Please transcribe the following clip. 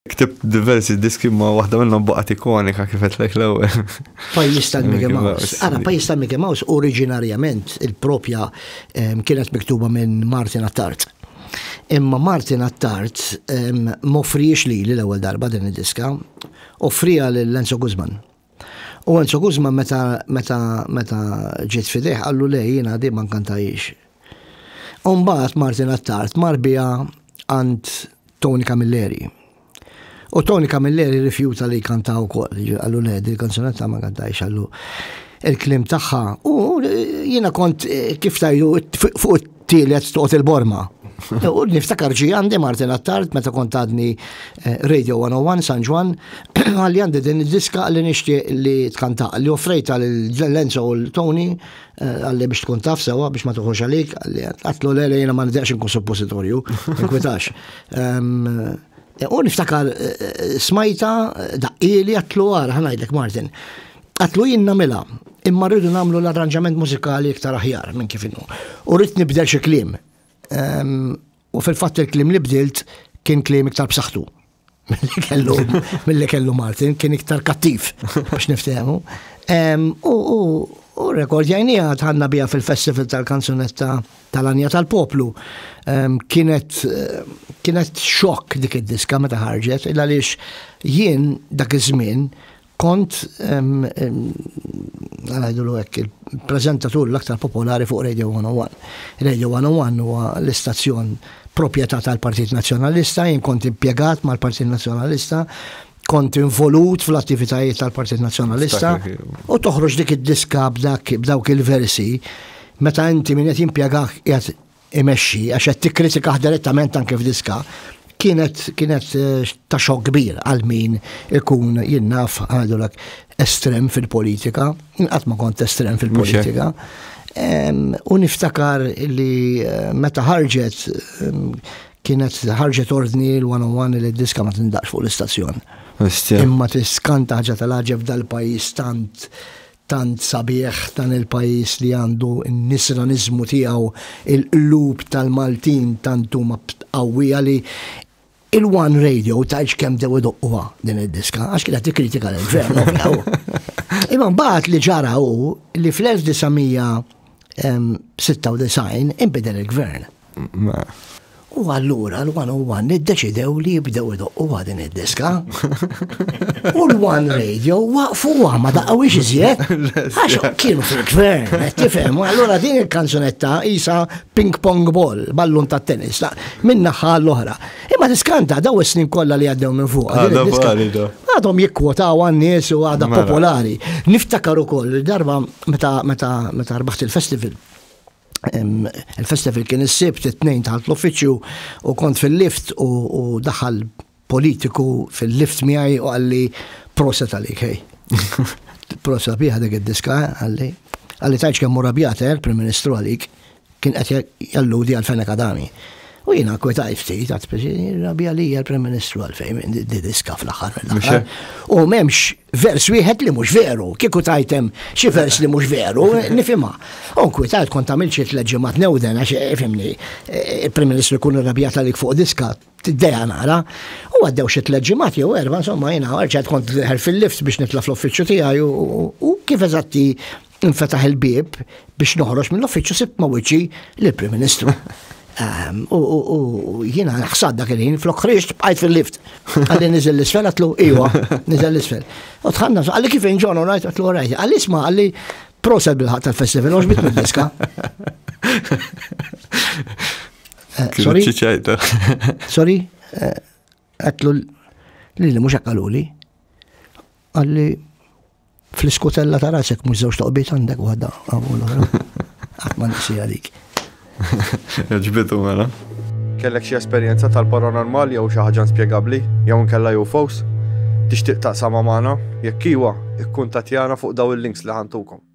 Ktibt diversi diski ma waħda minnhom baqgħet ikonika kif qedlek l-ewwel. Pajjiż tal-Mickey Mouse. Ara, pajjiż tal-Mickey Mouse oriġinarjament il-propja ehm, kienet miktuba minn Martin Attard. Imma Martin Attard ehm, mofriex li l-ewwel darba din id-diska, offrija lil Lenzo Guzman. U Enzo Guzma meta meta meta ġiet fidejh qallu le jiena di ma nkantajiex. Umbagħad Martin Attard mar biha għand Tony Camilleri. U Tony Camilleri rifjuta li jkanta wkoll, qallu le di kanzunetta ma nkantajiex qallu il-klim tagħha u jiena kont kif tajlu fuq tielet toqgħod il-borma. U niftakar ġi għandi Martin Attard meta kont għadni eh, Radio 101 San Ġwan, għalli għandi din id-diska li nixtieq li tkanta li offrejta l-Lenzo u l-Tony eh, għalli biex tkun taf sewa biex ma tuħux għalik, għalli għatlu l jena ma nidjax nkun suppositorju, nkwitax. Eh, u niftakar smajta daqqili għatlu għar, ħanajdlek Martin. Għatlu jien namela, imma rridu namlu l-arranġament mużikali iktar aħjar minn kif innu. U rrid nibdel xi kliem. Ehm, u fil-fatt il-kliem li bdilt kien kliem iktar b'saħħtu mill-li kellu, mill-li kellu Martin, kien iktar kattiv, biex niftehmu. Ehm, u rekord jajni għad ħanna bija fil-festival tal-kanzunetta tal-anja tal-poplu. Ehm, kienet, kienet xok dik id-diska meta ħarġet, il-għalix jien dak iż-żmien Kont, għanajdu l hekk il-prezentatur l-aktar popolari fuq Radio 101. Radio 101 huwa l-istazzjon proprjetà tal-Partit Nazzjonalista, jien kont impjegat mal-Partit Nazzjonalista, kont involut fl-attivitajiet tal-Partit Nazzjonalista u toħroġ dik id-diska b'dawk il-versi meta inti min qed jimpjegak qiegħed imexxi għax qed tikkritikah direttament anke f'diska kienet kienet eh, ta' xokk kbir għal min ikun jinnaf għadulek estrem fil-politika, inqatt ma kont estrem fil-politika. U niftakar li eh, meta ħarġet kienet ħarġet ordni l-101 li d-diska ma tindaqx fuq l-istazzjon. Imma tiskanta ħaġa tal-ħagġeb dal-pajis tant tant sabiħ dan il-pajjiż li għandu n-nisraniżmu tiegħu il-qlub tal-Maltin tant huma btqawwija li il-one radio tgħidx kemm bdew idoqquha din id-diska għax kienet tikkritika lill-gvern. Imma mbagħad li ġara hu li fl-1900 96 inbidel il-gvern. U allura l-101 iddeċidew li jibdew idoqqu għadin id-diska. U l-One Radio waqfu ma daqqaw iżjed. Għax kienu fil-gvern, tifhem, allura din il-kanzunetta isa ping pong ball, ballun ta' tennis, minna naħħa l-oħra. Imma tiskanta daw is-snin kollha li għaddew minn fuq. Għadhom jikkwotaw għan-nies u għadha mela. popolari. Niftakar ukoll darba Meta meta meta rbaħt il-festival. Il-festival kien is-sibt it-tnejn taħt l-uffiċċju u kont fil-lift u daħal politiku fil-lift miegħi u għalli proset għalik hej. Proset bieħa dik id-diska għalli. Għalli tajċ kemm murabjata, eh, il-Prim Ministru għalik. kien qed jalludi għal Fenek Adami. U jina kwetaj ftit, għat speċi, rabi għalija l-Prim Ministru għalfejn, di diska fl-axar mill-axar. U memx vers wieħed li mux veru, kiku tajtem xi vers li mux veru, nifima. U kwetajt kont għamil xi tleġimat newden, għax eh, fimni, eh, il-Prim Ministru kun rabijat għalik fuq diska, Tiddeja nara, u għaddew xi tliet ġimgħat jew erba' insomma jiena rġgħet kont deħel fil-lift biex nitla' fl-uffiċċju tiegħi u kif eżatti infetaħ il-bieb biex noħroġ mill-uffiċċju sibt ma' wiċċi lill-Prim Ministru. Ehm, u jiena ħsad dak il-ħin, flok ħriġt bqajt fil-lift. Għalli niżel l-isfel, għatlu, iwa, niżel l-isfel. U tħanna, għalli kif inġon, u rajt, għatlu, rajt. Għalli isma, għalli proset bil-ħat tal-festival, uġbit minn diska. Eh, sorry. Sorry. Eh, għatlu li li mux għakaluli. Għalli fl-iskutella ta' rasek mux zewġ toqbiet għandek għadda għamul Għatma nisi għalik. Ġbitu mela. Kellek xie esperienza tal-paranormal jew xi ħaġa spjegabbli jew nkella UFOs? Tixtieq taqsama magħna? Jekk iwa, ikkun tatjana fuq daw il-links li ħantukom.